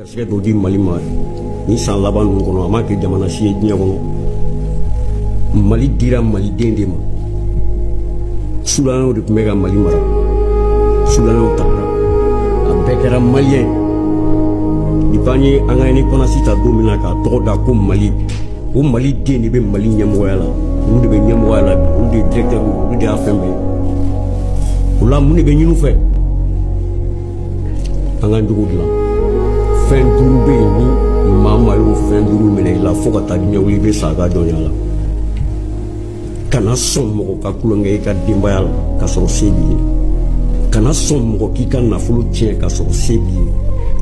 garisɛgɛ dɔ di mali ma ni san laban ninnu kɔnɔ a ma kɛ jamana si ye diɲɛ kɔnɔ mali dira maliden de ma sudanaw de tun bɛ ka mali mara sudanaw tagara a bɛɛ kɛra maliyɛn depuis an ye an ka indépendance ta don min na k'a tɔgɔ da ko mali o maliden de bɛ mali ɲɛmɔgɔya la olu de bɛ ɲɛmɔgɔya la olu de ye directeur olu de y'a fɛn bɛɛ o la mun de bɛ ɲin'u fɛ an ka jogo dilan fɛn duuru bɛ yen ni maa maa y'o fɛn duuru minɛ i la fo ka taa diɲɛ wuli i bɛ sa a ka jɔnya la kana sɔn mɔgɔ ka tulonkɛ i ka denbaya la ka sɔrɔ se b'i ye kana sɔn mɔgɔ k'i ka nafolo tiɲɛ ka sɔrɔ se b'i ye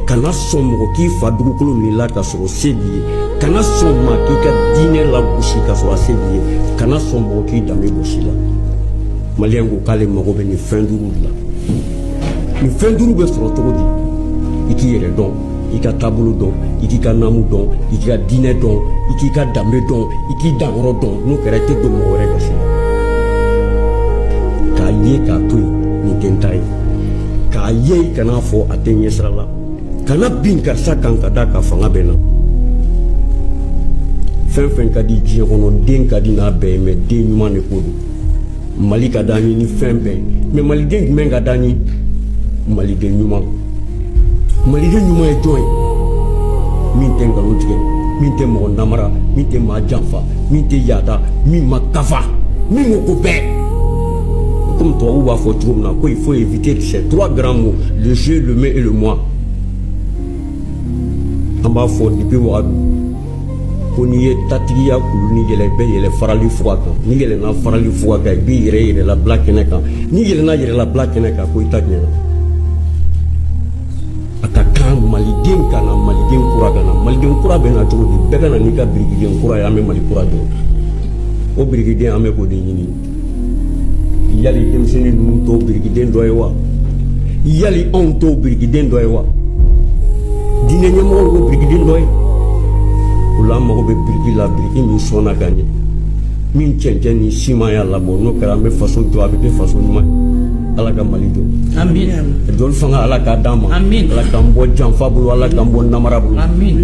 kana sɔn mɔgɔ k'i fa dugukolo minɛ i la ka sɔrɔ se b'i ye kana sɔn maa k'i ka diinɛ lagosi ka sɔrɔ a se b'i ye kana sɔn mɔgɔ k'i danbe bɔsi i la maliyɛn ko k'ale mago bɛ nin fɛn duuru de la nin fɛn duuru bɛ sɔrɔ cogo di i k'i yɛrɛ dɔn i k'i ka taabolo dɔn i k'i ka naamu dɔn i k'i ka diinɛ dɔn i k'i ka danbe dɔn i k'i danyɔrɔ dɔn n'o kɛra i tɛ don mɔgɔ wɛrɛ gasi la k'a ye k'a to yen nin tɛ n ta ye k'a ye i kan'a fɔ a tɛ n ɲɛ sira la kana bin karisa kan k'a da kan fanga bɛ n na fɛn fɛn ka di diɲɛ kɔnɔ den ka di n'a bɛɛ ye mais den ɲuman de ko don mali ka d'an ye ni fɛn bɛɛ ye mais maliden jumɛn ka d'an ye maliden ɲuman maliden ɲuman ye jɔn ye min tɛ nkalon tigɛ min tɛ mɔgɔ namara min tɛ maa janfa min tɛ yada min ma kafa min ko ko bɛɛ comme tubabuw b'a fɔ cogo min na ko il faut éviter ces trois grands mots le je le me et le moi an b'a fɔ depuis wagadu ko n'i ye tatigiya kulu nin yɛlɛ i bɛ yɛlɛ farali fuga kan n'i yɛlɛna farali fuga kan i bɛ yɛlɛ yɛrɛlabila kɛnɛ kan n'i yɛlɛna yɛrɛlabila kɛnɛ kan ko i ta ɲɛna a ka kan maliden ka na maliden kura ka na maliden kura bɛ na cogo di bɛɛ ka na n'i ka birikiden kura ye an bɛ mali kura jɔ o birikiden an bɛ k'o de ɲini yali denmisɛnnin ninnu t'o birikiden dɔ ye wa yali anw t'o birikiden dɔ ye wa diinɛ ɲɛmɔgɔw t'o birikiden dɔ ye o la an mago bɛ biriki la biriki min sɔnna ka ɲɛ min cɛncɛn ni siman y'a labɔ n'o kɛra an bɛ faso jɔ a bɛ kɛ faso ɲuman ye ala ka mali jɔ amin jɔli fanga ala k'a d'an ma amin ala k'an bɔ janfa bolo ala k'an bɔ namara bolo amin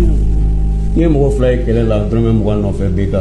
n'i ye mɔgɔ fila ye kɛlɛ la dɔrɔmɛ mugan nɔfɛ bɛ ka